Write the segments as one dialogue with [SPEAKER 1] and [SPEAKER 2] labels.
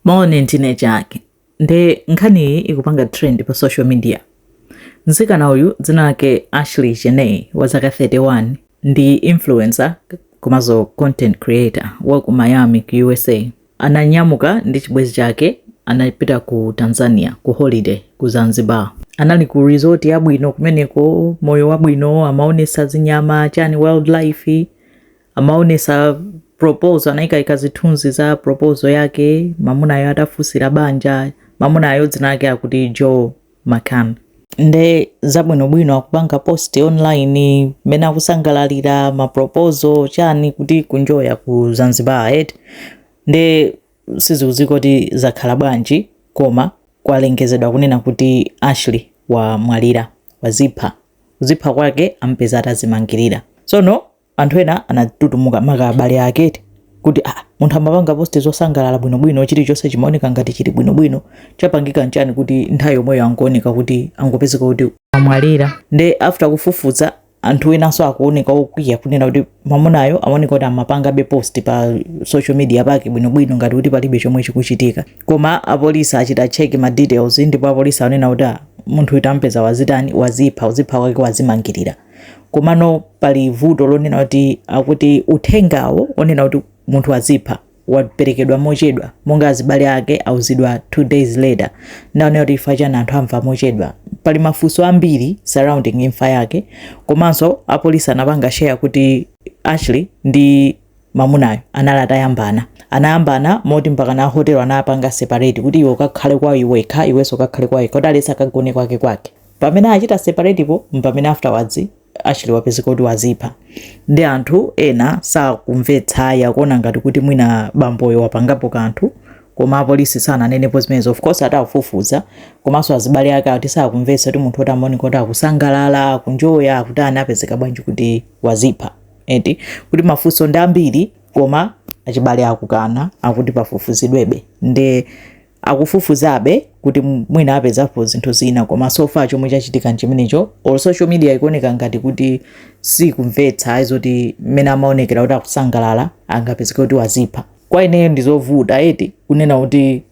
[SPEAKER 1] Maone ndine Jack. Nde nkhani iyi ikupanga trend pa social media. Mtsikana uyu dzina lake Ashley Jenay wa zaka 31 ndi influencer komanso content creator wa ku Miami ku USA. Ananyamuka ndi chibwenzi chake anapita ku Tanzania ku holiday ku Zanzibar. Anali ku resort yabwino kumeneko, moyo wabwino, amaonesa zinyama chani wildlife amaonesa proposal anaika zithunzi za proposal yake mamunayo atafunsira banja mamunayo dzina lake akuti joe McCann nde zabwinobwino akupanga post online mmene akusangalalira maproposal chani kuti kunjoya ku zanzibar eti nde sizikudziwika kuti zakhala bwanji koma kwalengezedwa kunena kuti ashley wamwalira wazipha kuzipha kwake ampeza atazimangirira tsono anthu ena anatutumuka maka abale ake eti kuti ah, munthu amapanga posti zosangalala bwinobwino chilichonse chimaoneka ngati chili bwinobwino chapangika nchani kuti nthawi yomweyo ankuoneka kuti angopezeka kuti amwalira nde after kufufuza anthu enanso akuoneka okwiya kunena kuti mamunayo amaoneka kuti amapangabe post pa social media pake bwinobwino ngati kuti palibe chomwe chikuchitika koma apolisi achita check ma details ndipo apolisi anena kuti ah, munthu uyu tampeza wazitani wazipha uzipha kwake wazimangirira komano pali vuto lonena kuti akuti uthengawo onena kuti munthu wazipha waperekedwa mochedwa monga azibale ake auzidwa two days later nde aonera kuti chifukwa chani anthu amva mochedwa pali mafunso ambiri surrounding imfa yake komanso apolisi anapanga share kuti ashley ndi mamunayo anali atayambana anayambana moti mpaka na hotel anapanga separate kuti iwe ukakhale kwa iwekha iwenso ukakhale kwa iwekha kuti at least akagone kwake kwake pamene achita separate po mpamene afterwards Ashley wapezeka kuti wazipha nde anthu ena sakumvetsa akuona ngati kuti mwina bamboyo wapangapo kanthu koma apolisi sananenepo zimenezo of course atafufuza komanso azibale ake ati sakumvetsa kuti munthu oti amaoneka kuti akusangalala akunjoya akutani apezeka bwanji kuti wazipha eti kuti mafunso ndi ambiri koma achibale akukana akuti pafufuzidwebe ndi akufufuzabe kuti mwina apezapo zinthu zina koma so far chomwe chachitika nchimenecho all social media ikuoneka ngati kuti sikumvetsa ayi zoti mmene amaonekera kuti akusangalala angapezeke kuti wazipha kwa ineyo ndizovuta eti kunena kuti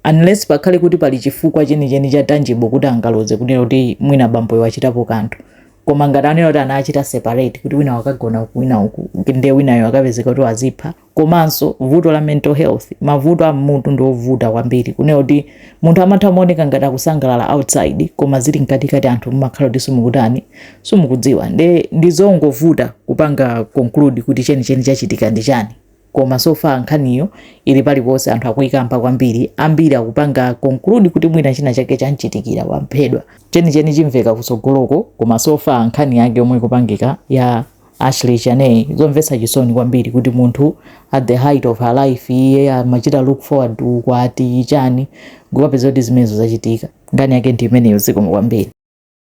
[SPEAKER 1] unless pakhale kuti pali chifukwa chenicheni cha tangible kuti angaloze kunena kuti mwina bamboyo wachitapo kanthu koma ngati anena kuti anachita separate kuti wina wakagona uku wina uku nde winayo akapezeka kuti wazipha komanso vuto la mental health mavuto a m'mutu ndi ovuta kwambiri kunena kuti munthu amatha kumaoneka ngati akusangalala outside koma zili mkatikati anthu mumakhala kuti simukutani simukudziwa nde ndi zongovuta kupanga conclude kuti chenicheni chachitika ndi chani koma so far nkhaniyo ili paliponse anthu akuyikamba kwambiri ambiri akupanga conclude kuti mwina china chake chamchitikira waphedwa chenicheni chimveka kutsogoloko koma so far nkhani yake yomwe ikupangika ya Ashlee Jenae, zomvetsa chisoni kwambiri kuti munthu at the height of her life iye amachita look forward ukwati chani n'kupapeza kuti zimenezo zachitika. Nkhani yake ndi imeneyo zikomo kwambiri.